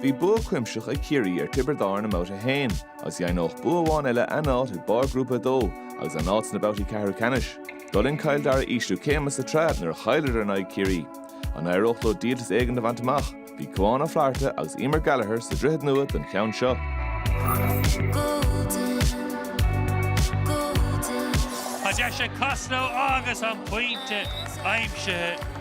Bhí bua cuimseach ag Ciarraí ar Tiobraid Árann i mBabhta 1 agus dheimhneódh bua amháin eile a n-áit ag barr Ghrúpa 2 agus a n-áit sna babhtaí ceathrú ceannais. D'fhulaing Cill Dara ísliú céime sa tsraith nuair a chailleadar in aghaidh Chiarraí. An éireódh leo díoltas éigin a bhaint amach? Bhí Cuán Ó Flatharta agus Eimear Gallagher sa Droichead Nua don cheann seo. Tá deis ag Costello agus an pointe aimsithe.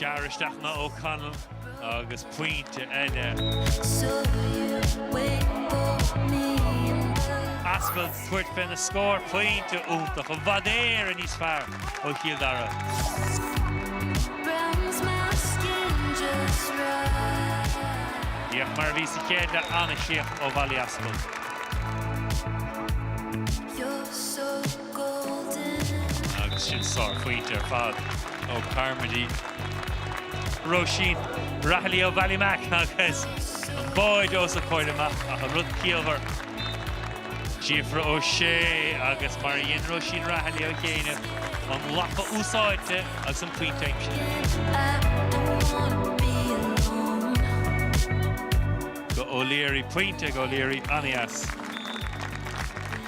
Gearr isteach anois O'Connell agus pointe eile. Aspell ag tabhairt féna scór pointe iontach i bhfad Éireann níos fearr ó Chill Dara. Bíodh mar a bhí sa chéad leath an-suíomh ó Mholly Aspell. Agus sin sár phointe ar fad ó Carmody. Róisín Rahilly ó Ballymac agus an báide ós a comhair amach ach an rud ciallmhar., Síofra Ó Sé agus mar a dhein Róisín Rahilly ó chianaibh, an lapa úsáidte agus an pointe aimsithe. go O'Leary. Pointe ag O'Leary, an-dheas.